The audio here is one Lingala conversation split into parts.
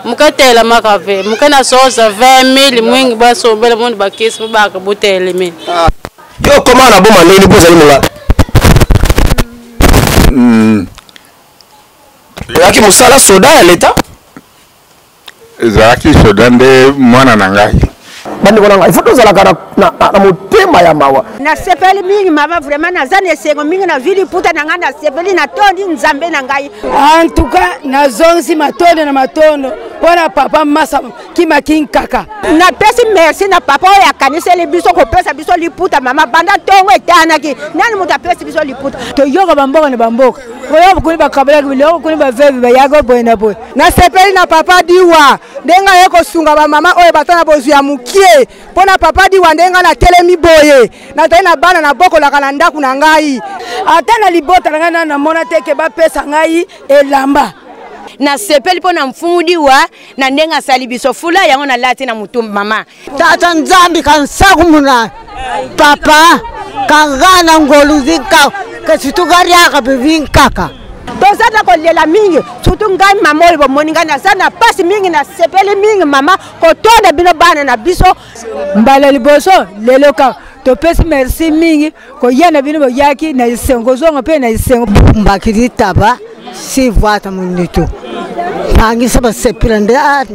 muke etelemaka mpe muke na sosa 20000 mwingi basombela moni bakisi mpo baka botelemeli ah. yo okoma na boma ndenge mpo ozali monga hmm. ezalaki mosala soda ya leta ezalaki soda nde mwana na ngai bandeko na ngai ifo tozalaka na motema ya mawa nasepeli mingi mama vraimen naza na esengo mingi na vili puta na ngai nasepeli natondi nzambe na ngai antuka nazongisi matondo na matondo mpo na papa masa kima kinkaka napesi merci na papa oyo akaniseli biso kopesa biso liputa mama banda ntongo etanaki nani moto apesi biso liputa toyoka bamboka na bamboka oyo bokuni bakabolaki biloko kuni bavevi bayaki oboye na boye nasepeli na papa diwa ndenge aye kosunga bamama oyo bata na bozwi ya mokie mpo na papa diwa ndenge ngai natelemi boye nazali na bana nabokolaka na ndako na ngai ata na libota na ngai nani namona te ke bapesa ngai elamba nasepeli mpo na mfumu diwa na ndenge asali biso fula yango nalati na motu mama tata nzambi ka nsaku muna papa ka nga na ngolu zi nka ka situ ka riaka bibi nkaka toza na kolela mingi surtout ngai mama oyo bomoni ngai naza na mpasi mingi nasepeli mingi mama kotonda bino bana na biso mbala liboso lelo kaka topesi merci mingi koya na bino boyaki na esengo zonga mpe na esengo mbaki litaba sivwata munitu bangisa basepela nde ah,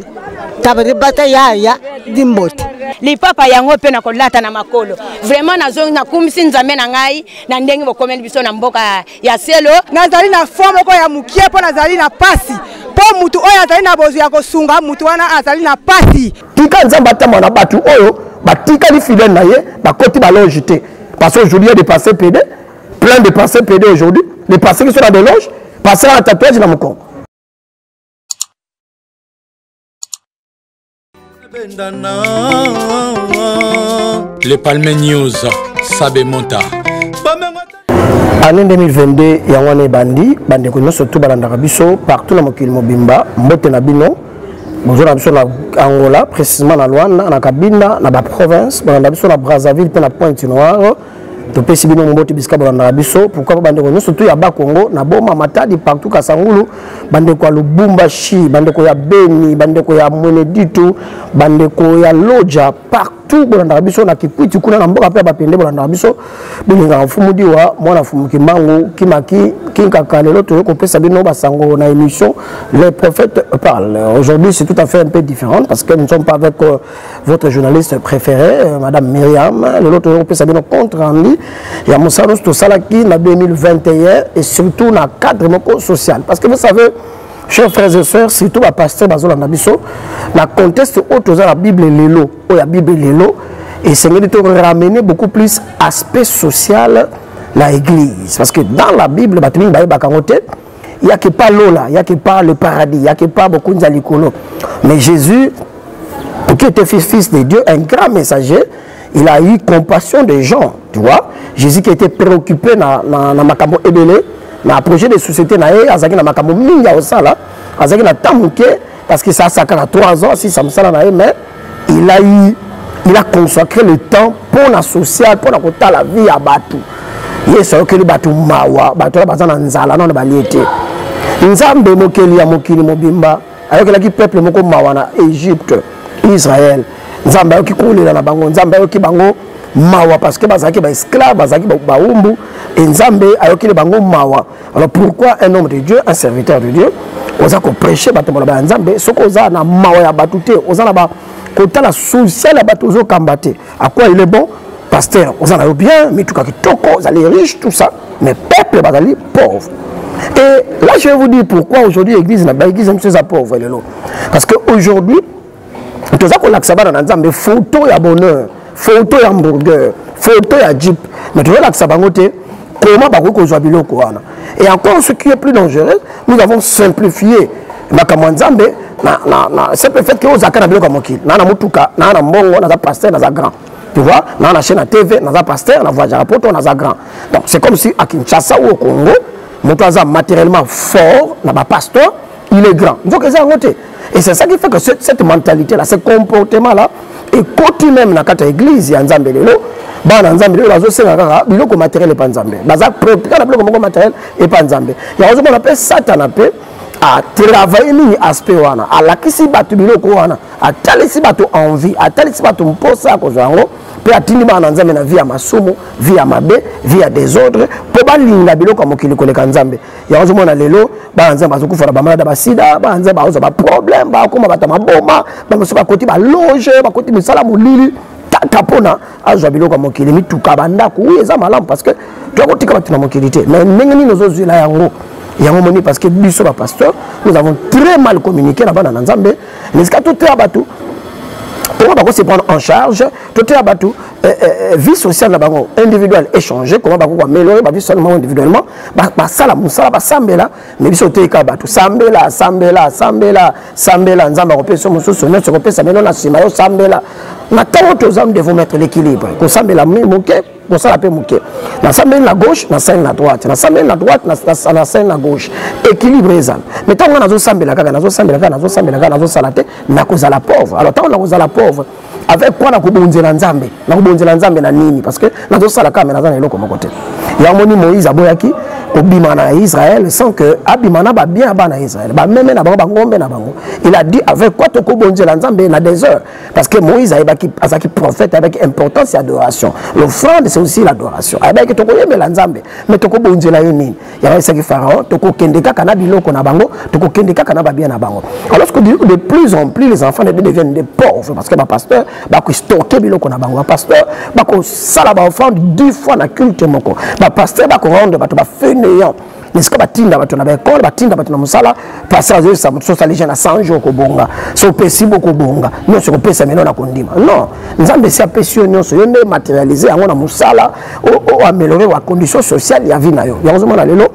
taba libata yaya limbote lipapa yango mpe na kolata na makolo vraiment nazongi nakumisi nzambe na ngai na ndenge bokomeli biso na mboka ya selo nazali na fo moko ya mokie mpo nazali na mpasi mpo motu oyo azali na bozwi ya kosunga motu wana azali na mpasi tika nzambe atambwa na bato oyo batikali fidèle na ye bakoti baloge te parce que aujourd'hui ya de passé pede plein de passé pede aujourd'hui de passé qui sont na deloge passé na tatouage na mokongo Le Palme News, Sabe Monta. année 2022 yango wana ebandi bandeko nyonso tu balandaka biso partout na mokili mobimba mbote na bino bozo na biso na angola précisément na luanda na kabinda na baprovince bolanda biso na brazzaville mpe na pointe noire topesi bino mbote bisika bolandaka biso pourkui mpo bandeko nyonso tu ya bakongo na boma matadi partout kasangulu bandeko ya lubumbashi bandeko ya beni bandeko ya mweneditu bandeko ya loja partout tout bolandaka biso na kikwiti kuna na mboka mpe ya bapende bolandaka biso bolingaka mfumu diwa mwana mfumu kimbangu kimaki kinkaka lelo toye kopesa bino basango na émission les prophètes parle aujourd'hui c'est tout à fait un peu différent parce que nous ne sommes pas avec euh, votre journaliste préféré euh, madame myriam lelo toye kopesa bino compte rendu ya mosala nyonso tosalaki na 2021 et surtout na cadre moko social parce que vous savez chers frères et sœurs surtout bapasteur bazolanda biso na conteste oyo toza na bible lelo oyo ya bible lelo esengeli to ramener beaucoup plus aspect social na église parce que dans la bible bato mingi bayebaka yango te yaki pas lola yaki pas le paradis yaki pas bokonzi ya likolo mais jésus qui était fils de dieu un grand messager il a eu compassion des gens tu vois jésus qui était préoccupé na, na, na makambo ebele na projet de société na ye azalaki na makambo mingi ya kosala azalaki na temps moke parce que ça ça kaka 3 ans si ça mosala na ye mais il a eu il a consacré le temps mpo na social mpo na kotala vie ya bato yesu ayokeli bato mawa bato wana baza na nzala nano balie te nzambe mokeli ya mokili mobimba ayokelaki peuple moko mawa na egypte israel nzambe ayoki kolela na bango nzambe ayoki bango mawa parce que bazalaki baesclave bazalaki baumbu e nzambe ayokeli bango mawa alors pourquoi un homme de dieu un serviteur de dieu oza kopreche bato maloba ya nzambe soki oza na mawa ya bato te oza na ba kotala social ya bato ozokamba te À quoi il est bon Pasteur, oza na yo bien, mituka kitoko, ozali riche, tout ça. Mais peuple bazali pauvre. Et là, je vais vous dire pourquoi aujourd'hui l'église na l'église même chose à pauvre lelo. Parce que aujourd'hui, toza ko lakisa bana na Nzambe photo ya bonheur, photo ya hamburger, photo ya jeep, mais toza lakisa bango te comment bakoki kozwa biloko wana et encore ce qui est plus dangereux nous avons simplifié makambo ya nzambe simple fait ke ozalaka na biloko ya mokili naa na motuka naa na mbongo naza paster naza grand tu vois naa na chaîne ya tv naza paster na voyagaka poto naza grand donc c'est comme si à kinshasa ou au congo moto aza matériellement fort na bapasteur il est grand nzoka eza yango te Et c'est ça qui fait que cette, cette mentalité-là, ce comportement-là, est coté même dans la église, il y a un bana nzambe lelo bazosenga kaka biloko matériel epa nzambe baza préoccupé na biloko moko matériel epa nzambe yango ozomona mpe satana mpe atravaille mingi aspect wana alakisi bato biloko wana atalisi bato envie atalisi bato mposa ya kozwa yango mpe atindi bana na nzambe na vie ya masumu vie ya mabe vie ya desordre mpo balinga biloko ya mokili koleka nzambe yango ozomona lelo bana nzambe bazokufa na bamalada basida bana nzambe bakozwa baproblème bakoma bato ya maboma bamosusu bakoti baloge bakoti misala molili kaka mpona azwa biloko ya mokili mituka bandako oyo eza malamu parce que tokotika bato na mokili te mais ndenge nini ozozwela yango yango moni parce que biso bapasteur nous avons très mal communiqué na bana na nzambe na esika toteya bato comment bako se prendre en charge toteya bato eh, eh, eh, vie sociale na bango individuelle échanger comment bako koaméliorer bavie sociale na bango individuellement basala mosala basambela me biso oteyika bato sambela sambela sambela sambela nzambe akopesa mosusu nyonso ekopesa mino na nsima yo sambela na ntango toza nous devons mettre l'équilibre kosambela moke kosala mpe moke nasambeli na gauche nasali na droite nasambeli na droite nasali na gauche équilibre ezala me ntango ngai nazosambela kaka nazosambela kaka nazosambela kaka nazosala te nakozala pauvre alors ntango nakozala pauvre avec quoi nakobonzela nzambe nakobonzela nzambe na nini parce que nazosala kaka me naza na eloko moko te yango moni moïse aboyaki kobima na israel sans que abima na babien ya bana ya israel bameme na bango bangombe na bango il a dit avec quoi tokobonzela nzambe na desert parce que moïse ayebaki azalaki prophète ayebaki importance ya adoration l'offrande c'est aussi l'adoration ayebaki tokoyembela nzambe mais tokobonzela ye nini yango esaki pharaon tokokende kaka na biloko na bango tokokende kaka na babia na bango alors que de plus en plus les enfants deviennent des pauvres parce que bapasteur bakostoke biloko na bango bapasteur bakosala baoffrande dix fois na culte moko bapasteur bakorendre bato bafainéant esika batinda bato na baekole batinda bato na mosala pasi azoyebisa moto sosali jeune na 100 jour okobonga so opesi bokobonga nyonso ekopesa mino na kondima non nzambe esi apesi yo nyonso yo nde materialise yango na mosala oaméliorer wa condition sociale ya vie na yo yango ozomona lelo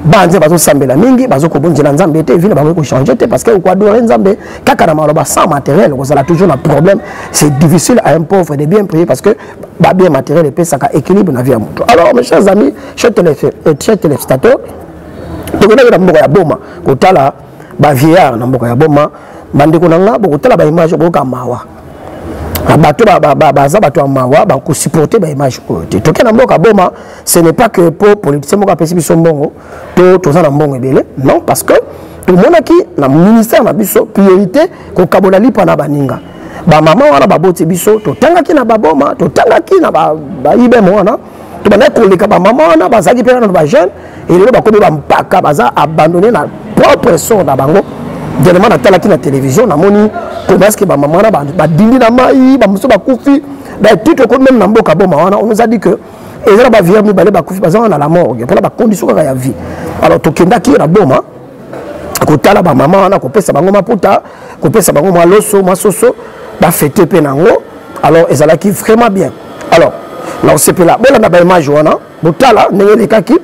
banze bazosambela mingi bazokobonzela nzambe te vina bakoki kochange te parce que okoadore nzambe kaka na maloba sans matériel okozala toujours na problème c'est difficile à un pauvre de bien prier parce que babien matériel epesaka équilibre na vie ya moto alors mes chers amis chers téléspectateurs euh, tokodaki na mboka ya boma kotala bavieillard na mboka ya boma bandeko na nga bokotala baimage okoyoka mawa Ah, bato baza bato ya mawa bakosupporte baimage oyo te toke na mboka boma ce n'est pas que mpo politicien moko apesi biso mbongo to toza na mbongo ebele non parce que tomonaki na ministère na biso priorité kokabola lipa na baninga bamama wana baboti biso totangaki na baboma totangaki na baibeme wana tobandaki koleka bamama wana bazalaki mpe nano bajeune elelo bakomi bampaka baza abandonne na propre sort na bango dernièrement natalaki na télévision namoni komaske bamama wana badindi na mai bamosusu bakufi batite okomi meme na mboka boma wana on nous a dit que eza na baviere mibale bakufi baza wana na la morgue mpona bakondiso kaka ya vie alors tokendaki na boma kotala bamama wana kopesa bango maputa kopesa bango mwa loso mwa soso bafete mpe na yango alors ezalaki vraiment bien alors na kosepela bolanda baimage wana botala ndenge elekaki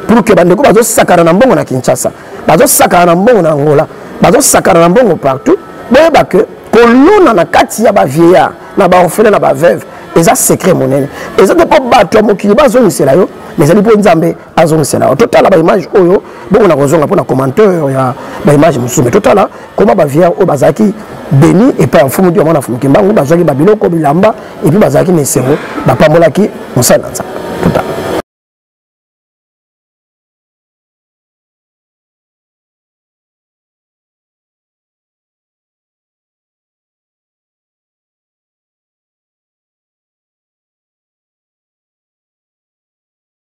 pour que bandeko bazosakana na mbongo na kinshasa bazosakana na mbongo na angola bazosakana na mbongo partout boyeba ke kolona na kati ya bavieillard na baorfele na baveuve eza secret monene eza te mpo bato ya mokili bazongisela yo mais ezali mpo nzambe azongisela yo totala baimage oyo bongo na kozonga mpo na commenteur ya baimage mosusu me totala koma baviere oyo bazalaki beni epai ya mfumu diwa mwana mfumu kimbangu bazwaki babiloko bilamba epuis bazalaki na esengo bapambolaki mosali na nzambe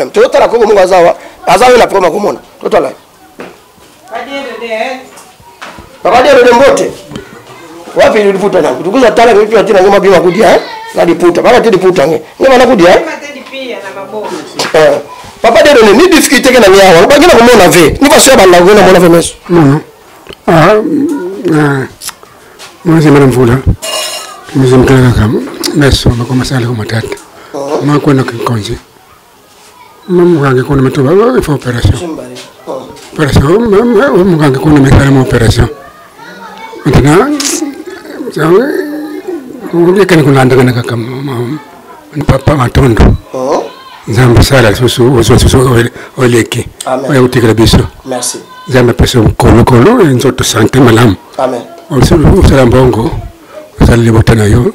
problème totala koko moko aza wa aza oyo na problème akomona totala Papa Dero de Mbote. Wapi ni liputa na? Tukuza tala kwa pia tena ngoma bima kudia eh? Na liputa. Baka te liputa nge. Ngoma na kudia eh? eh. Papa Dero ne ni difficulté ke na nya wa. Ba ngena ko mona ve. Ni ba so ba la ngena mona ve meso. Mhm. Ah. Ah. Mwana zema na mvula. Mzimkala kaka meso bakoma sala ko matata. Oh. Mwa kwenda kinkonje. mokange kuna mito bafa opération opération mokange kuna misalama opération maintenant ekani kolandakana kaka papa matondo nzambe sala lisusu ozwa lisusu oleki oya kotikela biso nzambe apesa kolokolo nzoto sante malamu osala mbongo osala libota na yo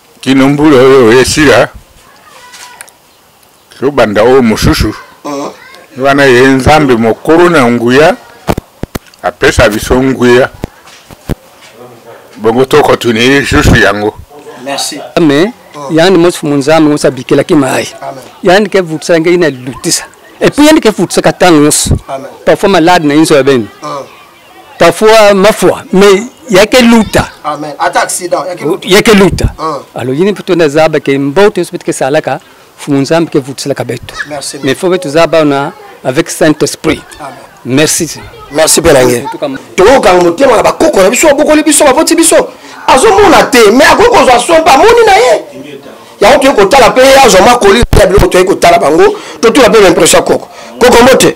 kino mbula oyo esila tobanda oyo mosusu ah. wana ye nzambe mokolo na nguya apesa biso nguya bongo tokotuni lisusu yango ame yandi mosusu monzambe nyonso abikelaki mai yandi ke vutisaka ngei na lilutisa epuis yandi ke vutisaka ntango nyonso parfois malade na inso ya bene ah. parfois mafua mais yake luta amen ata accident yake luta yake luta ah. alors yini puto na zaba ke mboto sobe ke salaka fumu nzambe ke vutiselaka betu mais fo betu zaba na avec saint esprit amen merci merci mpe na nge tokokanga motema na bakoko na biso abokoli biso baboti biso azomona te me akoki kozwa so mpe amoni na ye yango toyei kotala mpe ye azwa makoli ya biloko toyei kotala bango totula mpe baimpression ya koko koko mbote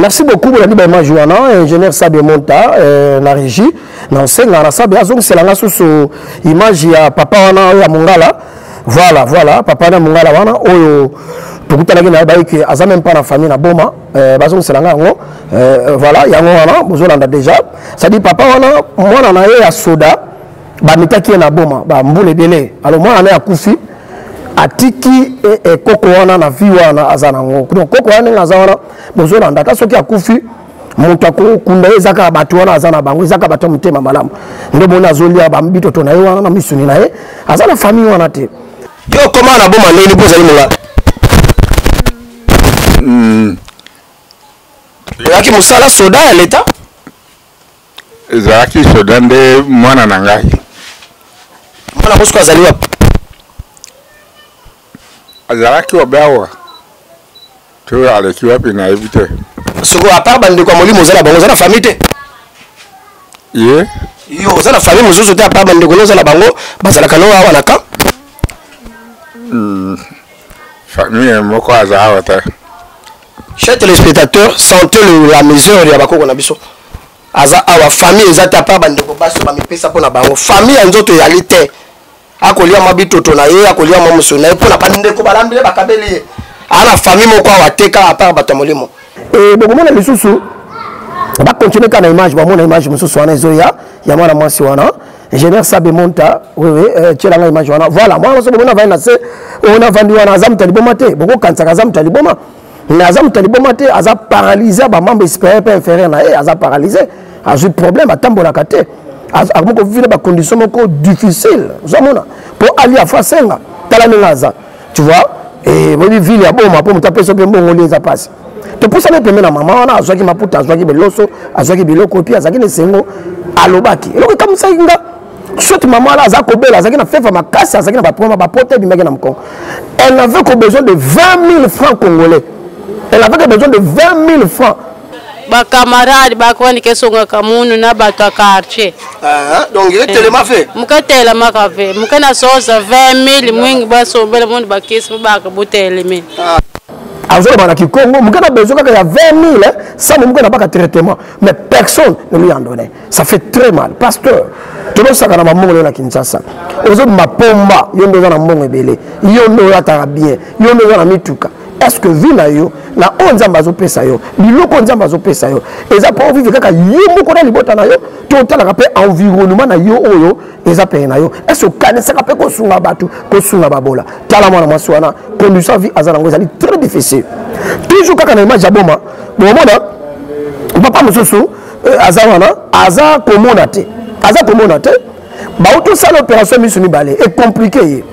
merci beaucoup bolandi baimage wana ingénieur sabe monta euh, na régie na osenga na sabe azongisela nga susu image ya papa wana ya mongala voilà voilà papa na mongala wana oyo tokutanaki na ye bayiki aza meme pas na famille na boma euh, bazongisela nga yango euh, voilà yango wana bozolanda déjà cestadire papa wana mwana na ye ya soda bamitaki ye na boma bambula ebele alo mwana na ye akufi atiki e, e, koko wana na vie wana aza nango donc koko wana ndenge aza wana bozolanda ata soki akufi moto akokunda ye ezaka bato wana aza na bango ezaka bato ya motema malamu nde moni azolia bitoto na ye wana na misuni na ye aza na famille wana te yo okoma na boma ndenge mpo ozali monga hmm. oyaki mosala soda ya leta ezalaki soda nde mwana na ngai mwana mosuku azali wapi azalaki wabe awa to aleki wapi nayebi te soko apart bandeko ya molimo oza na bango oza na famille te ye yo oza na famille mosusu te apart bandeko no oza na bango bazalaka no awa na camp hmm. famille moko aza awa te Chers téléspectateurs, sentez le, la mesure ya bakoko na biso. Aza awa famille eza ta pa bandeko baso bamipesa mpo na bango. Famille ya nzoto eyali te. Akolia mwa bitoto na ye, akolia mwa mosolo na ye mpo na bandeko balambi ye bakabeli ye. Ana famille moko awa te kaka apart bato ya molimo. E, bokomona lisusu bakontinue kaka na image, bamona image mosusu wana ezoya ya mwana mwasi wana ingénieur sabe monta wewe eh, tyela ngai image wana voilà mwana nyonso bomona avandi na se oyo navandi wana aza moto ya liboma te bokokanisaka aza moto ya liboma mais aza moto ya liboma te aza paralyse bamambre supérieur mpe inférieur na ye aza paralyse azwi problème atambolaka te akomi kovivre bacondition moko difficile ozomona mpo ali afo asenga tala ndenge aza tu vois eh, oyebi ville ya boma mpo moto apesa mpe mbongoli eza mpasi topusani pembe na mama wana azwaki maputa azwaki beloso azwaki biloko epi azalaki na esengo alobaki eloko ekamwisaki nga soki mama wana aza kobela azalaki na fefa makasi azalaki na baproma bapota ebimaki na mokongo elle n'avait que besoin de 20 000 francs congolais elle avait que besoin de 20 000 francs bakamarade bakwandika esongaka munu na bato ya quartier ah, donc etelema eh, fe moke etelemaka fe moke na soza 20 000 mwingi basombela munu bakisi bobaka botelemi ah. azoloba na kikongo moke na besoin kaka ya 20 mille eh, sambo moke na baka traitement mais personne ne lui en donnait ça fait très mal pasteur tolosaka na bambongo leo na kinshasa ozobima pomba yo nde oza na mbongo ebele yo nde oyataka bien yo nde oza na mituka est ce que vi na yo na oyo nzambe azopesa yo biloko oyo nzambe azopesa yo eza mpo ovive kaka yo moko na libota na yo to otalaka mpe environnement na yo oyo eza pene na yo ese okanisaka mpe kosunga bato kosunga babola tala mwana mwasi wana condition vie aza nango ezali très difficile toujours kaka na image ya boma bomona papa mosusu euh, aza wana aza komona te aza komona te bauti osala opération miso mibale ecomplike ye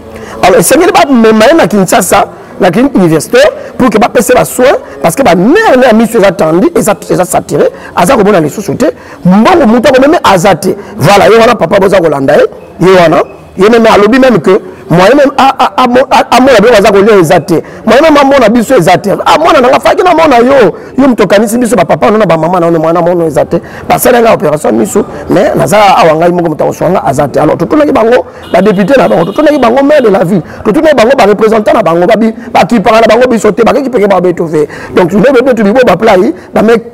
alors esengeli bamema ye na kinshasa na clinique universitaire pour que bapese basoin parce que banere na ya miso eza tandi eza saturé aza komona lisusu te mbongo moto ako meme aza te voilà ye wana papa boza kolanda ye ye wana ye meme alobi meme que moyen meme amona biloko aza kolia eza te moyen meme amona biso eza te ah, mwana nanga faki namona yo yo moto okanisi biso bapapa no na bamama na yo mwana mono eza te basali ngai opération miso mais naza awa ngai moko moto akoswa ngai aza te alors totunaki bango badepute na bango totunaki bango maire de la ville totunaki bango barepresentant na bango bakipaka na bango biso te bakekipeke babeto ve donc nde bebetu bibo baplai bameki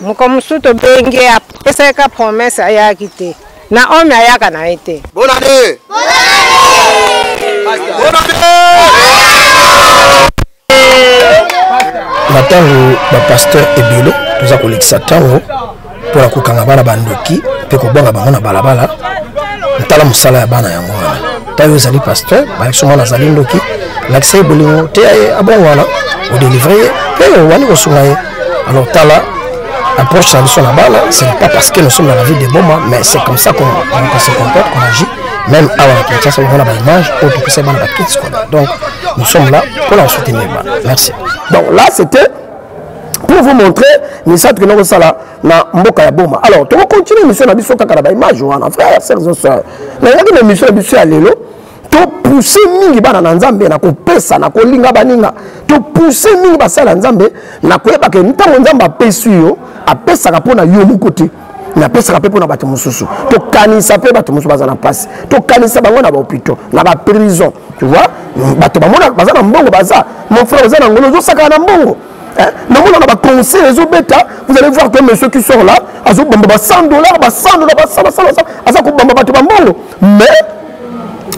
moko mosusu tobengi ye apesaki ka promese ayaki te na ome ayaka na ye te bonane na ntango bapaster ebele toza kolekisa ntango mpo na kokanga bana bandoki mpe kobwaka bango na balabala ntala mosala ya bana yango wana tayo ezali pasteur balakisi mwana azali ndoki lakisa ye bolingo teya ye abongwana odelivre ye mpe owani kosunga ye alors tala approche na biso na bana ce n'est pas parce que nous sommes dans la ville de boma mais c'est comme ça qu'on qu se comporte qu'on agit même awa na kinshasa omona baimage oyo topesa bana bakiti scolaire donc nous sommes là mpona kosoutenir bana merci donc là c'était pour vous montrer misato kende kosala na mboka ya boma alors toko continue émission na biso kaka na baimage wana frère sœurs et sœurs nayaki na émission na biso ya lelo topousse mingi bana na nzambe na kopesa na kolinga baninga topousse mingi basali ya nzambe na koyeba ke ntango nzambe apesi yo apesaka mpo na yo moko te napesaka mpe mpo na bato mosusu tokanisa mpe bato mosusu baza na mpasi tokanisa bango na bahopitau na baprison tu vois bato baza na mbongo baza mon frère oza na ngolo ozosakana na mbongo Hein? namonaka baconcert ezobeta vous allez voir que monsieur qui sort là azobamba ba 100 dollars ba 100 dollars ba 100 basala basala aza kobamba bato bambongo mais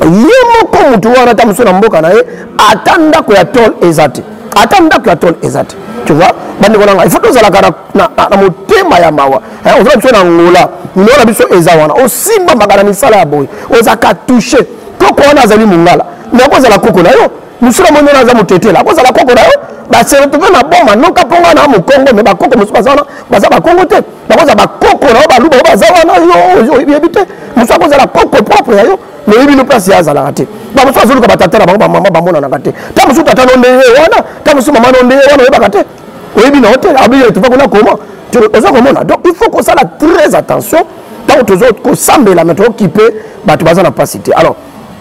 ye moko motu wana ata mosusu na mboka na ye ata ndako ya tol eza te ata ndako ya tol eza te tu vois bandeko na ngai ifo tozalaka na motema ya mawa ozala biso na angola ndeko na biso eza wana osimbamaka na misala ya boye ozalaka touche koko wana azali mongala me akozala koko na yo mosika moni wana aza motetela akozala koko na yo baseretrouve na boma noka mpo ngai na mokongo me bakoko mosusu baza wana baza bakongo te bakozala bakoko na yo baluba yo baza wana yo oyebi te mosusu akozala koko propre ya yo moyebi no place ye azalaka te bamosusu azoluka batata na bango bamama bamonanaka te ta mosusu tata no nde ye wana ta mosusu mama no nde ye wana oyebaka te oyebi na yo te abiyetuva kuna koma oza komona donc il faut kosala très attention ntango tozo kosambela me tokokipe bato baza na mpasi te alors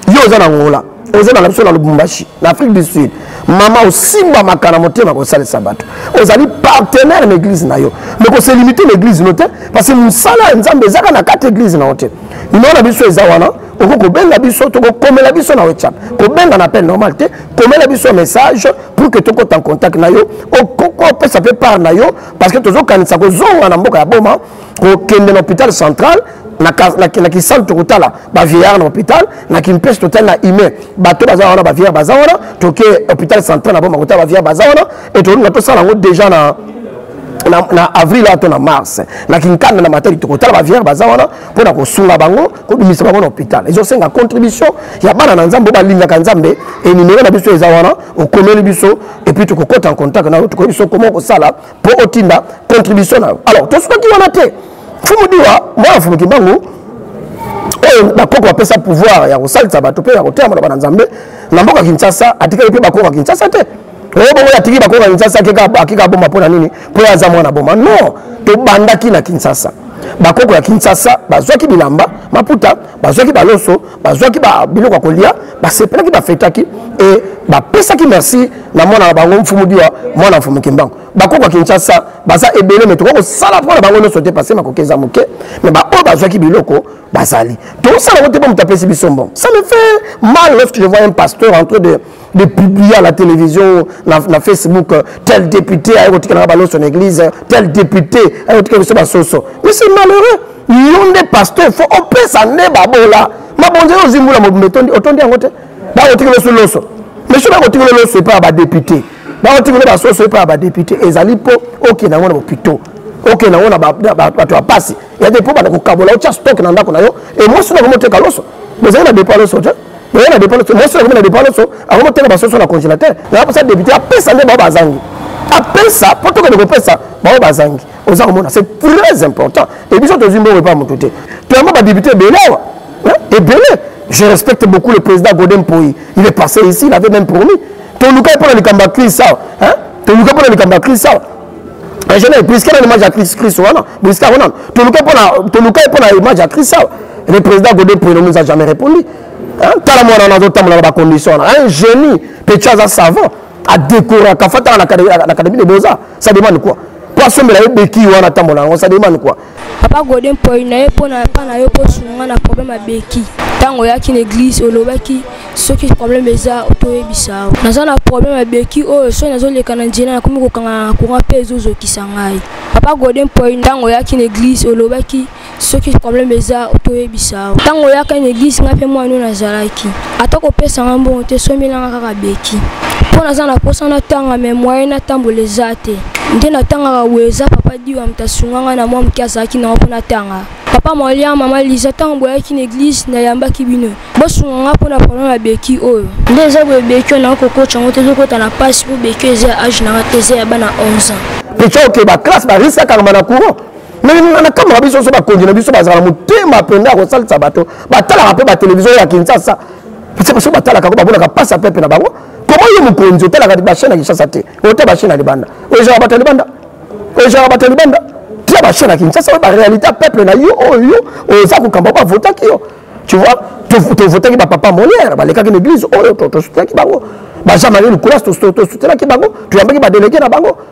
yo oza na ngola oza na biso na lubumbashi na afrique du sud mama osimbamaka na motema kosalisa bato ozali partenaire na eglize na yo me koselimite na eglize no te parce que mosala ya nzambe ezaka na kati eglize na yo te nimero na biso eza wana okoki kobenga biso tokokomela biso na whatsapp kobenga na pe normal te komela biso message pour que tokota en contact na yo opesa mpe part na yo parce que tozokanisa kozonga na mboka ya boma kokende na hôpital central na, na, na kisalu tokotala bavieillard na hôpital na kimpese totali na humain bato baza wana bavieillard baza wana toke hôpital central na boma kotala bavieillard baza wana e tolinga tosala yango déjà na na, na avril oyo to na mars na kinkanda na matali tokotala baviere baza wana mpo na kosunga bango kobimisa bango na hôpital ezosenga contribution ya bana na nzambe oyo balingaka nzambe enimero na biso eza wana okomeli biso epuis tokokota en contact na yo tokoyebi biso koma okosala mpo otinda contribution na yo alors tosukaki wana te fumu diwa mwana fumu kimbangu oyo bakoko bapesa pouvoir ya kosalisa bato mpe ya koteama na bana nzambe na mboka kinshasa atikaki mpe bakoko ya kinshasa te oyo bongo atiki bakoko ya kinshasa akika aboma mpo na nini mpo ye aza mwana boma non tobandaki na kinshasa bakoko ya kinshasa bazwaki bilamba maputa bazwaki baloso bazwaki biloko ya kolia basepelaki bafetaki e bapesaki merci na mwana na bango mfumu diwa mwana mfumu kimbangu bakoko ya kinshasa baza ebele me tokoki kosala mpo na bango nyonso te pase makoki eza moke me baoyo bazwaki biloko bazali tosala yango te mpo moto apesi biso mbongo ça me fait mal lorsque je vois un pasteur en train de de publier à la télévision, na, na Facebook, euh, tel député a écouté la balance en église, euh, tel député a écouté le soso. Mais c'est malheureux. Yon des pasteurs, faut on peut s'en aller babola. Ma bonne aux zimboula mo metondi otondi en côté. Ba écouté le soloso. Mais je vais écouter le soloso pas ba député. Ba écouté le ba soso pas ba député. Et zali po OK na ngona pito. OK na ngona ba ba ba to passer. Il y a des po ba ko kabola o stock na ndako na yo. Et moi sina ko moteka loso. Mais zali na départ loso. oye na depaloso mwasi nakomi na depaloso akomi oteka basoso na congélateur na baposa député apesa nde bao bazangi apesa mpo tokende kopesa bao bazangi oza komona c'est très important e biso tozwi mbongo epa motu te toyamba badepute ebele awa ebele je respecte beaucoup le président godin poi il est passé ici il avait même promis tolukai mpo na likambo ya crise awa tolukai mpo na likambo ya crise awa en général prisca na image ya christ christ wana prisca wana toluka mpona toluka ye mpona image ya christ awa le président gode pruno nous a jamais répondu tala mwana wana azotambola na bacondition wana un génie petit aza savant adekoraka fataka na académie de beaux-arts ça demande quoi mpo asombela ye beki wana atambola yango ça demande quoi papa gode mpoi na ye mpo na epa na yo mpo osunga na problème ya beki ntango oyaki na eglise olobaki soki problème eza toyebisa yo naza na problème ya beki oyo soki nazoleka na nzela nakomi kokangana na courant mpe ezozokisa ngai papa gode mpoi ntango oyaki na eglise olobaki soki problème eza toyebisa yo ntango oyaka na eglise ngai mpe mwana oyo nazalaki ata kopesa nga mbongo te sombelanga kaka beki mpo naza na mposa natanga me moye natambola eza te nde natangaka boye eza papa diwa moto asunga nga na mwa moke azalaki nango mpo natanga papa molia mama liza ntango boyaki na eglize nayambaki bino bosunga nga mpo na problème ya beki oyo nde eza boye beki oyo nakoki kokotya yango te ezokota na mpasi mpo beki oyo eza ya age na nga te eza ya bana 11 ans pita okeba classe barisakaka mana courant mais nakamaka biso nyonso bakonzi na biso bazala motema mpenza ya kosalisa bato batalaka mpe batelevizio ya kinshasa pese baso batalaka yango bamonaka mpasi ya pepe na bango koma yo mokonzi otalaka bachaine ya kinshasa te ota bachaine ya libanda ojaka bato ya libanda ojaka bato ya libanda tia bachaine ya kinshasa oyo baréalité ya peuple na yo oyo oza kokamba oyo bavotaki yo tu vois tovotaki bapapa molière balekaki na église oyo tosutaki bango bajean marie lukulas tosoutenaki bango toyambaki badelege na bango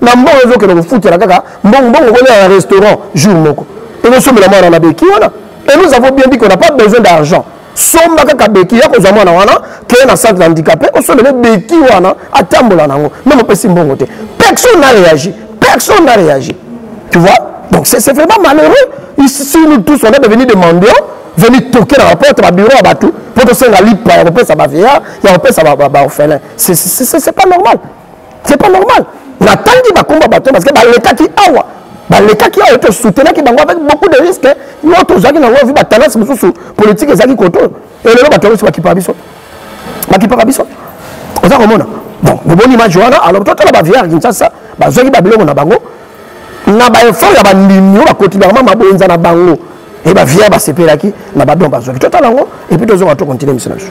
na mbongo ezokende kofutela kaka mbongo mbongo kolia na restaurant jour moko ezosombela mwana na beki wana et nous avons bien dit qu'on n'a pas besoin d'argent somba kaka beki ya kozwa mwana wana keye na centre handicapé osombele beki wana atambola na yango meme opesi mbongo te personne n'a réagi personne n'a réagi tu vois donc c'est vraiment malheureux ici nous tous on est devenu des mendiants veni toke na baporte babiro ya bato mpo tosenga lipa ya kopesa bavieillard ya kopesa baorphelin c'est pas normal c'est pas normal natangi bakomba bato parce que balekaki awa balekaki awa to soutenaki bango avec beaucoup de risque yo tozalaki na yango vi batalance mosusu politique ezalaki koto elelo bato yango si bakipaka biso bakipaka biso oza komona bon omoni image wana alors totala bavier ya kinshasa bazwaki babiloko na bango na baeffort ya bandimi oyo bakoti bango mabonza na bango e bavier basepelaki na badon bazwaki totala yango epuis tozonga to continue miso na biso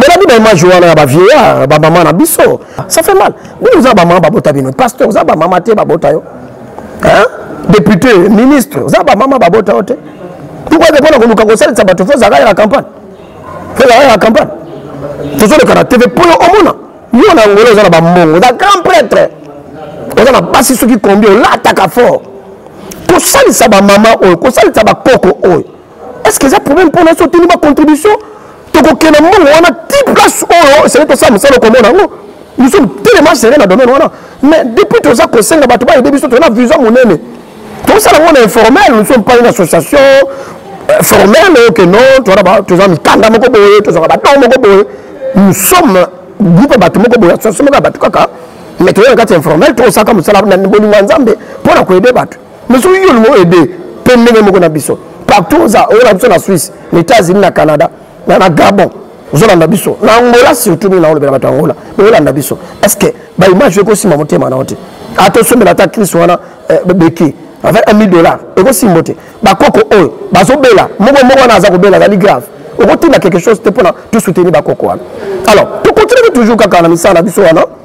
bolabi baimage wana ya bavieillard bamama na biso ça fait mal bino oza bamama babota bino pasteur oza bamama te babota yo député ministre oza bamama babota yo te pourkoi te mpona koluka kosalisa bato fo ozalaka ya campagne fo ozalaka ya campagne tozoleka na tv mpo yo omona yo na angola oza na bambongo oza grand prêtre oza na basi soki kombi olataka fort kosalisa bamama oyo kosalisa bakoko oyo est ce que eza problème mpona so otuni bacontribution tokokenda mbongo wana ti place oyo esali tosala mosala okomona yango nous sommes tellement serré na domaine wana mais depuis toza kosenga bato bayede biso tona vision monene tosala yango na informel nous sommes pas une association euh, formelle oyo ke non toza mikanda moko boye tozwaka bato moko boye nous sommes groupe ya bato moko boye association moko ya bato kaka mais toyaka kati ya informel tokosalaka mosala na bolingo ya nzambe mpo na koyede bato mais soki yo olingo aide mpe ndenge moko na biso partout oza oyo na biso na suisse na états-unis na canada na, na gabon ozolanda biso na angola surtout mingi naolobela bato ya angola mais olanda biso est ce que baimage ekosimba motema na yo te ata osombela ata crise wana eh, beki avec 1000 dollars ekosimbo te bakoko oyo bazobela moko moko wana aza kobela azali grave okotinda quelque chose te mpona tosoutenir bakoko wana alors tokontinue toujours kaka na misala na biso wana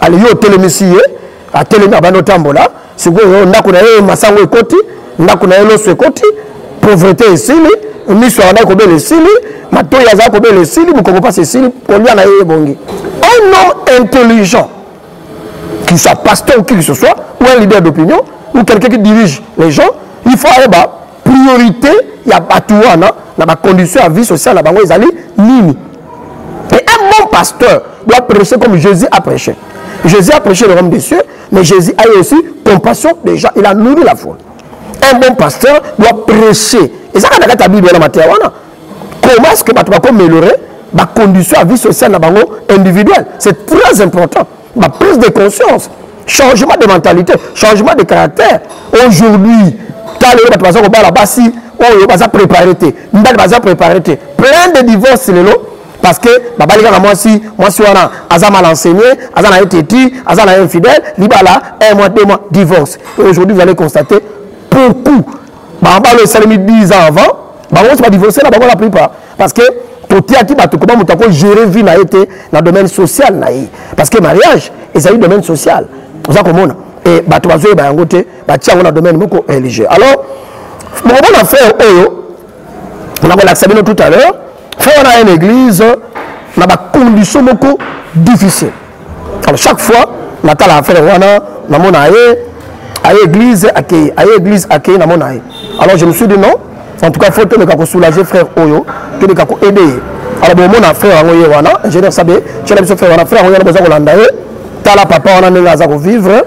ale yo otelemisi ye atelemi abandi otambola sikoyo ndako na ye masango ekoti ndako na ye loso ekoti pauvrete esili miso azalaki kobela esili matoi azalaki kobela esili mokongo mpasi esili kolia na ye ebongi un homme intelligent qu'il soit pasteur ou qui que ce soit ou un leader d'opinion ou quelqu'un qui dirige les gens il faut ayeba priorité ya bato wana na bacondition ya vie sociale na bango ezali nini et un bon pasteur doit prêcher comme jésus a prêché jésus a prêché le royaume des cieux mais jésus a eu aussi compassion des gens il a nourri la foule un bon pasteur doit prêcher ezaka na kati ya bible wana mateya wana comment est ce que bato bakomelore bacondition ya vie sociale na bango individuelle c'est très important ba prise de conscience changement de mentalité changement de caractère aujourd'hui ta lelo bato baza kobala basi oyo baza préparé te mibali baza préparé te plein de divorce lelo parce que babali kaka mwasi mwasi wana aza mal enseigné aza na ye teti aza na ye infidèle libala un mois deux mois divorce aujourd'hui vous allez constater beaucoup barbalo esalemi 10 ans avant bango nyonso badivorce na bango la plupart parce que totiaki bato koba moto akogere vie na ye te na domaine social na ye parce que mariage ezali domaine social oza komona e bato bazoyeba yango te batia yango na domaine moko religieux alors bokomona frère oyo nakolakisa bino tout à l'heure fo wana aya na église na bacondition moko difficile alors chaque fois natala affaire wana namona ye aye église akei aye église akei namona ye alors je me suis dit non en tout cas faut toleka kosoulager frère oyo toleka koaide ye alors bomona frère yango ye wana ingénieur sabe tiela biso frère wana frère yango ye wana boza kolanda ye tala papa wana ndenge aza kovivre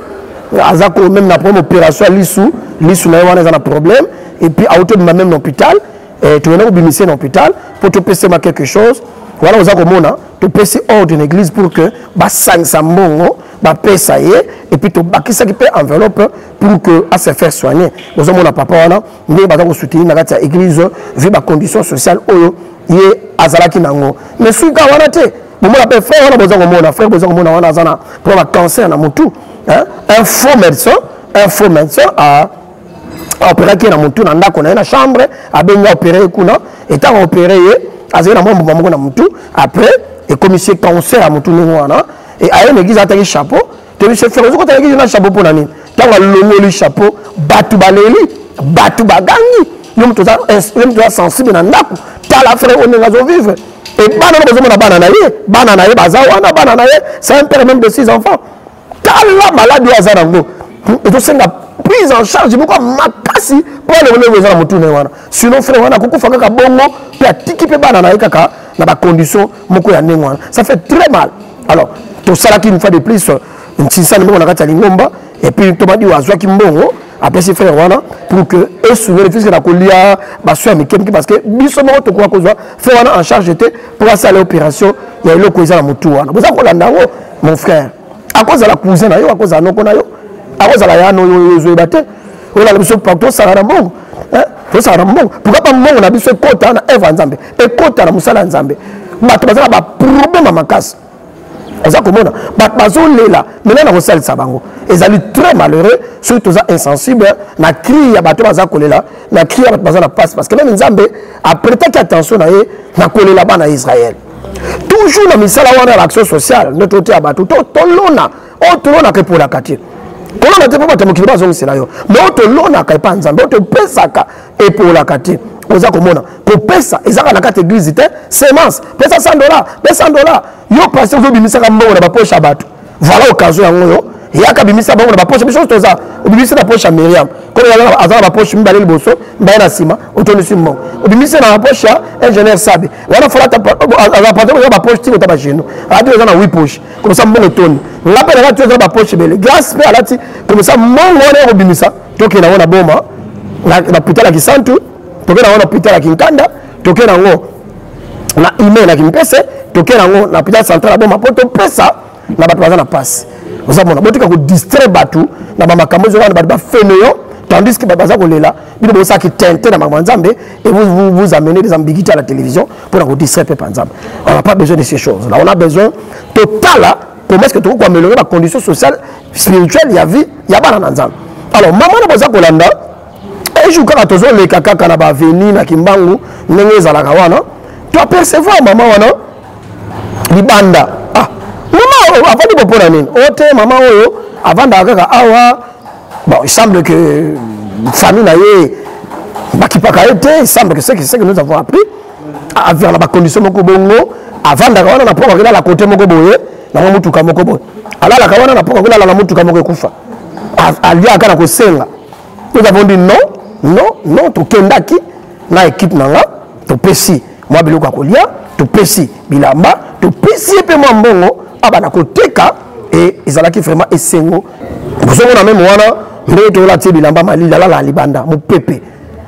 aza ko même na problème opération ya lisu lisu na ye wana eza na problème et puis auti obima même na hôpital eh, toyenda kobimisa na hôpital mpo topesema quelque chose wana oza komona topesi ordre na église pour que basangisa mbongo bapesa ye epuis tobakisaki mpe enveloppe pour que a se faire soigner bozomona papa wana ndenge baza kosoutenir na kati ya église vu bacondition sociale oyo ye azalaki na yango mais soki kaka wana te bomona mpe frère wana boza komona frère boza komona wana aza na mpo na cancer na motu un faux médecin un faux médecin a aoperaki ye na motu na ndako na ye na chambre abengi aopere ye kuna etango aopere ye azali na mwa mbuma moko na motu après ekomisi ye cancer ya motu ndenge wana e aye na eglise ataki chapeau tobise fere ozoki otala eglise na chapeau mpo na nini ntango alongoli chapeau bato baleli bato bagangi yo moto oza sensible na ndako tala fere oyo ndenge azovivre e bana na bozomona bana na ye bana na ye baza wana bana na ye c'est un père même de six enfants tala maladi oyo aza nango ezosenga prise en charge moko ya makasi mpo alongolongo eza na motuna ye wana sinon frère wana akokufa kaka bongo mpe atiki mpe bana na ye kaka na bacondition moko ya ndenge wana ça fait très mal alors tosalaki une fois de plus ntinsani moko na kati ya lingomba epuis tomadiwa azwaki mbongo apesi frère wana pour que esungeli puiske na kolia baso ya mike mike parce que biso moko tokoka kozwa frère wana en charge te mpo asala opération ya eloko eza na motu wana boza kolanda yango mon frère akozala cousin na yo akozala noko na yo akozala ya no yo ezoyeba te olala biso tosala na mbongo tosala na mbongo pourkui bambongo na biso ekota na evre ya nzambe ekota na mosala ya nzambe bato baza na baproblème ya makasi oza komona bato bazolela mena na kosalisa bango ezali très malheureux soki toza insensible na cri ya bato baza kolela na cri ya bato baza na mpasi parce que meme nzambe apretaki attention na ye na kolela bana ya israele toujours na misala wana ya action sociale nde toteya bato to tolona oyo oh, tolonaka epolaka te kolona te mpo bato ya mokili bazongisela yo me oyo tolonaka epa nzambe oyo topesaka epolaka te oza komona kopesa ezaka na kati eglize te semence pesa 100 dola pesa 100 dola yo pasi ozobimisaka mbongo na baposhe ya bato voilà occasion yango yo yaka bimisa bango na baposhe biso toza obimisi na poshe ya miriam kono aza na baposhe mibale liboso mibale na nsima otondisi mbongo obimisi na baposhe ya ingénieur sabe wana fola aza patron eza ba poche tiko ta ba genou alati eza na 8 poche comme ça mbongo toni nga pe nalati eza ba poche ebele grace pe alati comme ça mbongo wana ekobimisa tokenda yango na boma na pital ya kisantu tokenda yango na pital ya kinkanda tokenda yango na email ya kimpese tokenda yango na pital central ya boma mpo topesa na bato baza na mpasi oza mona botika kodistraire bato na bamakambo ezo wana bato bafene yo tandis que bato baza kolela bino bosalaki tente na makambo ya nzambe et vous, vous, vous amenez des ambiguités à la télévision mpo na kodistraire mpe mpa nzambe on n'a pas besoin de ces choses là on a besoin totala comment est ce que tokoki koaméliorer bacondition sociale spirituelle ya vie ya bana na nzambe alors mama na boza kolanda ejour kaka tozoleka kaka na baveni na kimbangu ndenge ezalaka wana to apercevoir mama wana libanda ah, mama avandi bo mpo na nini o oh, te mama oyo avandaka kaka awa bon il semble que euh, famille na ye bakipaka ye te il semble que ce que nous avons appris avivaka na bacondition moko bongo avandaka wana na mpo akokela la kote moko boye nango motuka moko boye alalaka wana na mpo akokela la motuka moko ekufa aliaka na kosenga nous avons dit non non non tokendaki na équipe na nga topesi mwa biloko ya kolia topesi bilamba topesi ye mpe mwa mbongo abana koteka e ezalaki vraiment esengo ozomona meme wana ndenge toyola tie bilamba malili alala libanda mopepe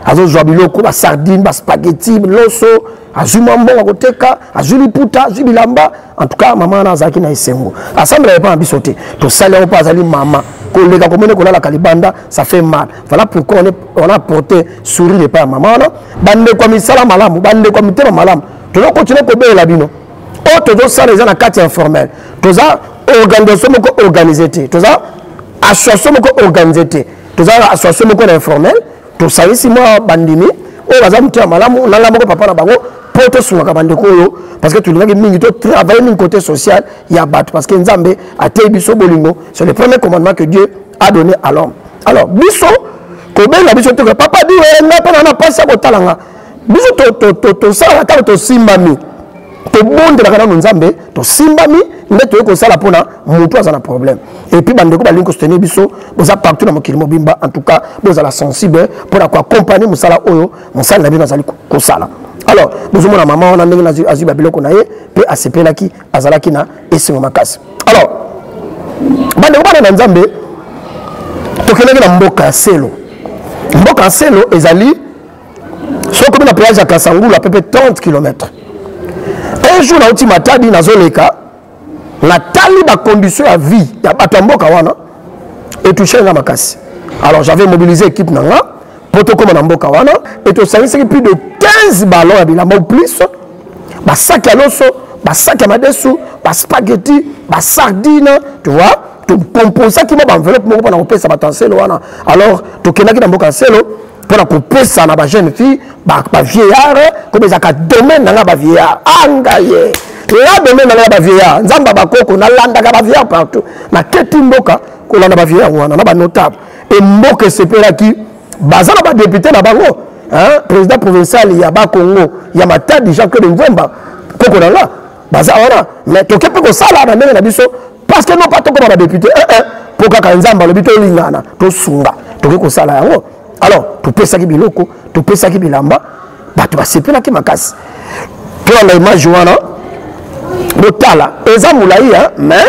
azozwa biloko basardine baspageti loso azwi mwa mbongo akoteka azwi liputa azwi bilamba en tout cas mama wana azalaki na esengo asambela epa na biso te tosali yango mpo azali mama koleka komene kolalaka libanda ça fait mal voilà pourquoi on, est, on a porté sourire epai ya mama wana bandeko ya misala malamu bandeko ya mitema malamu toza continue kobelela bino oyo tozosala eza na kati ya informel toza organisation moko organise te toza association moko organise te toza association moko na informel tosangisi mwa bandimi oyo baza moto ya malamu nanga moko papa na bango mpo tosungaka bandeko oyo parce que tolingaki mingi totravaille mingi côté social ya bato parce que nzambe ateyi biso bolingo c'est le premier commandement que dieu a donné à l'homme alors biso kobenga biso te papa diwe nga mpe na na mpasi ya kotala nga biso tosalaka ntango tosimbami tobondelaka nano nzambe tosimbami nde toyei kosala mpona motu aza na problème epuis bandeko balingi kosoutenir biso boza partout na mokili mobimba en tout cas bozala sensible mpona koaccompagne mosala oyo mosali na bino azali kosala alors bozomona mama wana ndenge azwi babiloko na ye mpe asepelaki azalaki na esengo makasi alors bandeko bana na nzambe tokendaki na mboka ya selo mboka ya selo ezali soki okomi na péage ya kasangulu apepe 30 km un jour nauti matadi nazoleka natali bacondition ya vie ya bato ya mboka wana etouche nga makasi alors j'avais mobilisé équipe na nga mpo tokóma na mboka wana e tosangisaki plus de 15 ballon ya bilamba ou plus basaki ya loso basaki ya madesu baspaghetti basardine tu vois tokomposaki mwa baenveloppe moko mpo na kopesa bato ya nselo wana alors tokendaki na mboka ya nselo mpo na kopesa na bajeune fille bavieillard komi ezalaka domaine na ngai bavieillard angaye ea domaine na ngai bavieillard nzambe bakoko nalandaka bavieillard partout naketi mboka kolanda bavieillard wana na banotable e mboka esepelaki baza na badepute na bango président provincial ya bakongo ya matadi jean claude mvemba koko na nga baza wana mais toke mpe kosala na ndenge na biso parce que non pas tokoma ba député eh eh po kaka nzambe alobi tolingana tosunga tokoki kosala yango alors topesaki biloko topesaki bilamba bato basepelaki makasi tolanda image wana botala eza molai mais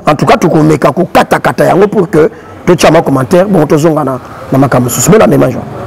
en tout cas tokomeka kokatakata yango pour que totya ma commentaire bongo tozonga na makambo mosusu bolanda image wana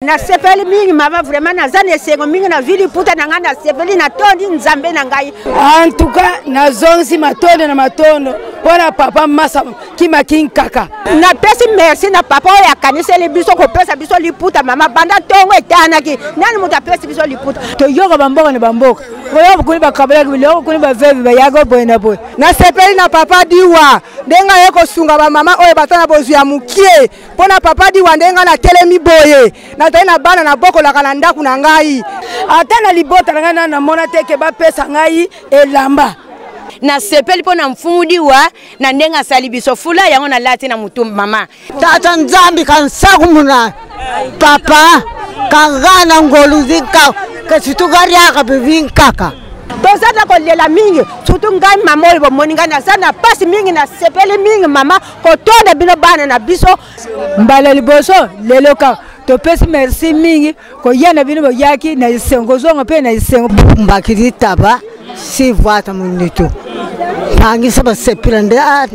nasepeli mingi mama vraiment naza na esengo mingi na vili puta na ngai nasepeli natondi nzambe na ngai antuka nazongisi matondo na matondo mpo na papa masa kimakin kaka napesi merci na papa oyo akaniseli biso kopesa biso liputa mama banda ntongo etanaki nani moto apesi biso liputa toyoka bamboka na bamboka oyo bokuni bakabolaki biloko bokuni bavevi bayaka boye na boye nasepeli na papa diwa ndenge aye kosunga bamama oyo baza na bozwi ya mokie mpo na papa diwa ndenge ngai natelemi boye nazali na bana nabokolaka na ndako na ngai ata na libota na ngai nana namona te ke bapesa ngai elamba nasepeli mpo na mfumu diwa na ndenge asali biso fula yango nalati na motu mama tata nzambi kansaku muna papa kanga na ngolu zinka kasitukariaka bivinkaka tozata kolela mingi surtout ngai mama oyo bomoni ngai naza na mpasi mingi nasepeli mingi mama kotonda bino bana na biso mbala liboso lelo kaka topesi merci mingi koya na bino boyaki na esengo kozonga mpe na esengo mbaki litaba si vwata monitu bangisa basepila nde ah,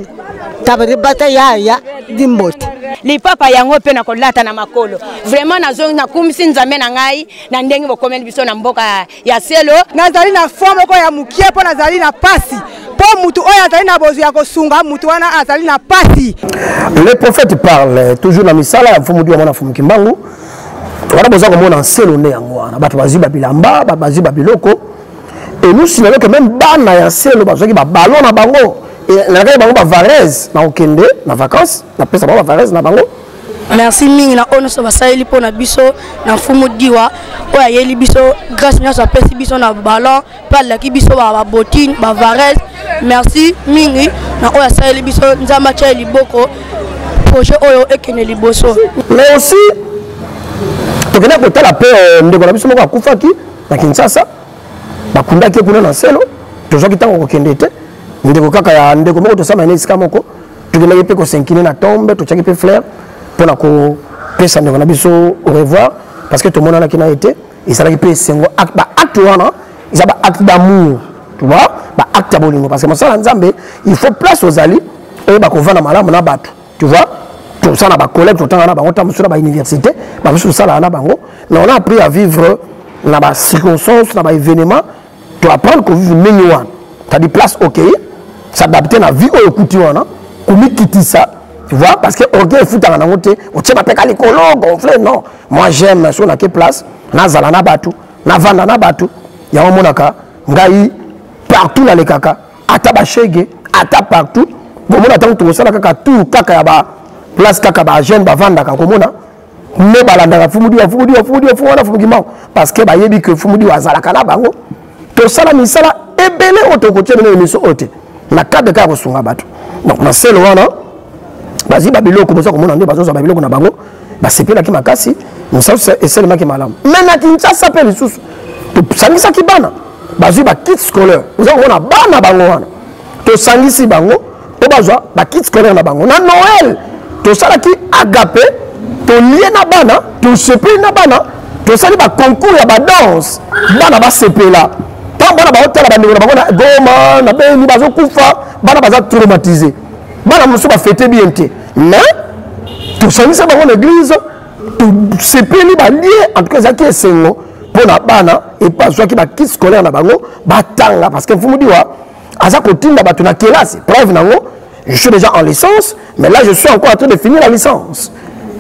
taba libata yaya limbote lipapa yango mpe na kolata na makolo vraiment nazongi nakumisi nzambe na ngai na ndenge bokomeli biso na mboka ya selo nazali na fond moko ya mokie mpo nazali na pasi mpo motu oyo azali na bozwi ya kosunga motu wana azali na pasi le prophète parle toujours na misala ya mfumu diwa mwana mfumu kimbangu wana boza komona nselo nde yango wana bato bazwi babilamba bazwi babiloko elusi na loke meme bana ya nselo bazwaki babalo na bango nalakaki bango bavarese na kokende na vacance napesa bango bavarese na bango merci mingi na oyo nyonso basaleli mpo na biso na mfumu diwa oyo ayeli biso grâce nyonso apesi biso na ballon mpe alaki biso babotine bavares merci mingi na oyo asaleli biso nzambe atya liboko projet oyo ekende liboso mais aussi tokenda kotala mpe euh, ndeko na biso moko akufaki na kinshasa bakundaki ye kuna na nselo tozwaki ntango kokende te ndeko kaka ya ndeko moko tosama ene esika moko tokendaki mpe kosenkine na tombe totyaki mpe flaire mpo na kopesa ndeko na biso au revoir parce que tomonanaki na ye te ezalaki mpe esengo baacte wana eza baacte d'amour tu vois baacte ya bolingo parce que mosala ya nzambe il faut place ozali oyeba kovanda malamu na bato tu vois tosala na bacollègue totanga na bango ntango mosusu na bauniversité bamosusu tosalaka na bango mais on a appris à vivre na bacirconstance na baévénement to apprendre kovive ndenge wana tadi place okei s'adapte na vie oyo okuti wana komikitisa tu vois parce que orgueil efutaka nango te otie mapeka likolo gonfle non moi j'aime so nake place nazala na bato navanda na bato yango omonaka ngai partout nalekaka ata bashege ata partout komona ntango tokosala kaka tour kaka ya ba place kaka bajeune bavandaka komona nde balandaka fumudiwa fumudiwa fumudiwa fumuana fumukimao parce que bayebi que fumudiwa azalaka na bango tosala misala ebele oyo tokotia bino emission oyo te na cadre kaka kosunga bato donc na selo wana bazwi babiloko boza komona nde bazozwa babiloko na bango basepelaki makasi mosala esalemaki malamu me na kinshasa mpe lisusu tosangisaki bana bazwi bakit scolaire oza komona bana bango wana tosangisi bango mpo bazwa bakit scolaire na bango na noel tosalaki agape tolie na bana tosepeli na bana tosali baconcours ya badanse bana basepela ntango bana baotala bandeko na bango na goma na beni bazokufa bana baza traumatise bana mosusu bafete bien te mais tosangisa bango na eglize tosepeli balie en tout cas ezalaki esengo mpo na bana epe bazwaki bakit scolaire na bango batanga parce que mfumu diwa aza kotinda bato na kelasi preuve nango je suis déjà en licence mais là je suis encore en train de finir la licence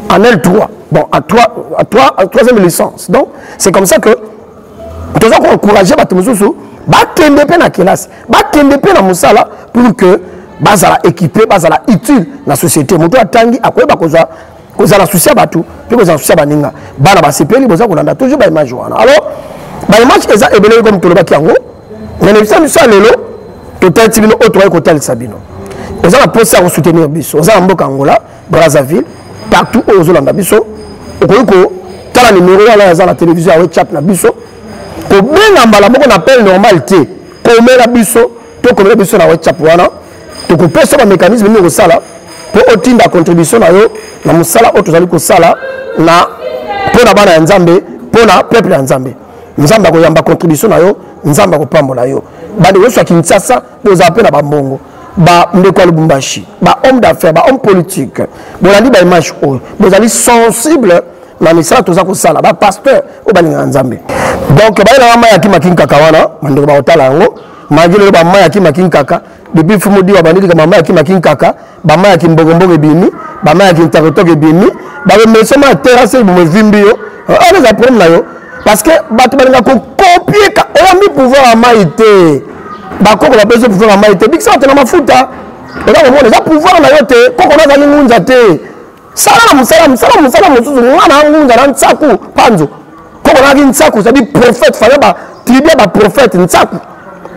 en l3 bon à 3 à 3 à troisième licence donc c'est comme ça que toza koencourage bato mosusu bakende mpe na kelasi bakende mpe na mosala pour que bazala équipe bazala utile na société moto atangi akoyeba kozwa kozala susi ya bato mpe kozala susi ya baninga bana basepeli boza kolanda toujours baimage wana alors baimage eza ebele comme tolobaki yango na lebisa biso ya lelo totalisi bino oyo tokoki kotalisa bino oza na mposa ya kosoutenir biso oza na mboka angola brazzaville partout oyo ozolanda biso okoki kotala nimero wana aza na televizio ya whatsapp na biso kobenga mbala moko na appel normal te komela biso tokomela biso na whatsapp wana tokopesa bamécanisme nini okosala mpo otinda contribution na yo na mosala oyo tozali kosala na mpo na bana ya nzambe mpo na peuple ya nzambe nzambe akoyamba contribution na yo nzambe akopambola yo bandeko nyonso ya kinshasa bozala mpe na bambongo bandeko ya lubumbashi bahomme d'affaires bahomme politique bolandi baimage oyo bozali sensible na misala toza kosala bapasteur oyo balingaka nzambe donc bayelaka mai ya kimakinkaka wana bandeko bakotala yango magi lelo bamai ya kimaki nkaka depuis fumu diwa bandilika bamai ya kimaki nkaka bamai ya kimbokomboko ebimi bamai ya kintokotoko ebimi bakomesoma ya terase bomo evimbi yo wana eza problème na yo parce que bato balinga kokopie oyambi pouvoir ya mai te bakoko bapesi yo pouvoir ya mai te bikisa bato na mafuta oza komona eza pouvoir na yo te koko nazali ngunza te sala na mosala mosala mosala mosusu mwana angunza na nsaku panzo koko nayaki nsaku cetadi prophète fale ba tribu ya baprophète nsaku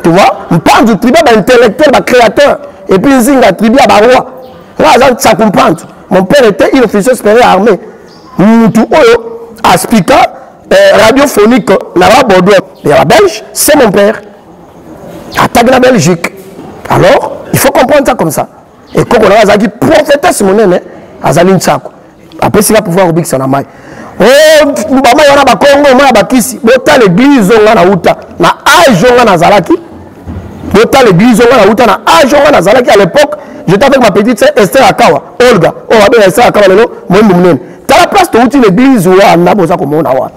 tu vois mpanzo tribu ya baintellectuel bacréateur et puis nzinga tribu ya baroi nga aza nsaku mpanzo mon père était il officier supérieur armé mutu oyo aspika eh, radiophonique na ba bordeaux ya babelge c'est mon père ataki na belgique alors il faut comprendre ça comme ça ekoko na ngai azalaki prophetesse monene azali nsako apesi nga pouvoir kobikisa na mai oh, bamai wana bakongo mai ya bakisi botala eglize oyo ngai nauta na age oyo ngai nazalaki botala eglize oyo ngai nauta na age oyo ngai nazalaki à l'époque j'étais avec ma petite sœur Esther Akawa Olga oyo oh, abenga Esther Akawa lelo moyembo monene tala place towuti na eglize wana boza komona wana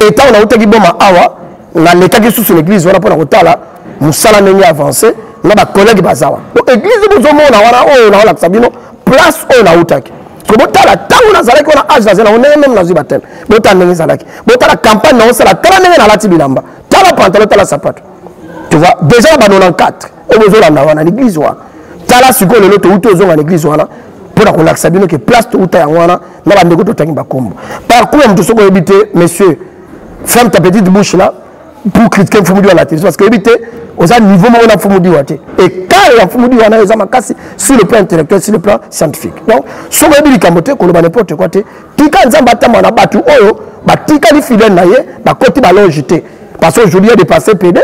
etango nautaki boma awa nalekaki susu na eglise wana mpo na kotala mosala ndenge avance na bacollègue baza wana donc eglise bozomona wana oyo naolakisa bino place oyo nautaki soki botala ntango nazalaki wana age nazali nango ndenge meme nazwi bateme botala ndenge ezalaki botala campagne naosala tala ndenge nalati bilamba tala pantalo tala sapato tu vois déjà na ba 94 oyo bozolanda wana na eglise wana tala sikoyo lelo touti ozonga na eglise wana mpo na kolakisa bino ke place touta yango wana na bandeko totangi bakombo parcours ya moto soki oyebi te monsieur ferme ta petite bouche là pour critiquer mfumu diwa la télévision parce que éviter oza niveau moko na mfumu diwa te ekare ya mfumu diwa nayo eza makasi sur le plan intellectuel sur le plan scientifique donc soki oyebi likambo te koloba n'importe quoi te tika nzambe atamba na bato oyo batikali fidèle na ye bakoti balonge te parce qu'aujourd'hui ya dépassé pede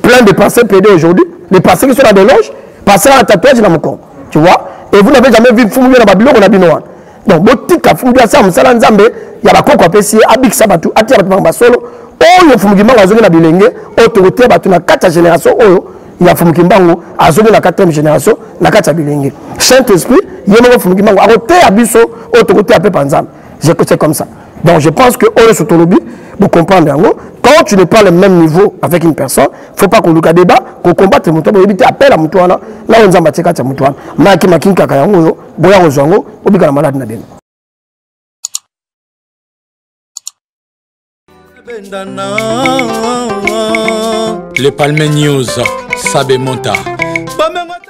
plein de passé pede aujourd'hui les passé qui sont na belonge passé na tatouage na mokongo tu vois et vous n'avez jamais vu mfumu diwa na babiloko na bino wana donc botika fumuki asala mosala nzambe ya bakoko apesi ye abikisa bato atia bato makambo ya solo oyo fumuki mbango azongi na bilenge oyo tokotia bato na kati ya génération oyo ya fumuki mbango azongi na 4e génération na kati ya bilenge saint esprit ye moko fumuki mbango akoteya biso oyo tokoteya mpe panzambe c'est comme ça donc je pense que oyo sotolobi bocomprendre yango quand tu n'es pas le même niveau avec une personne faut pas koluka débat kocombatre moto boyebi te appel ya moto wana na oyo nzambe atie kati ya moto wana mayaki makingi kaka yango oyo boya kozwa yango bobika na malade na bino Le Palme News, Sabe Monta.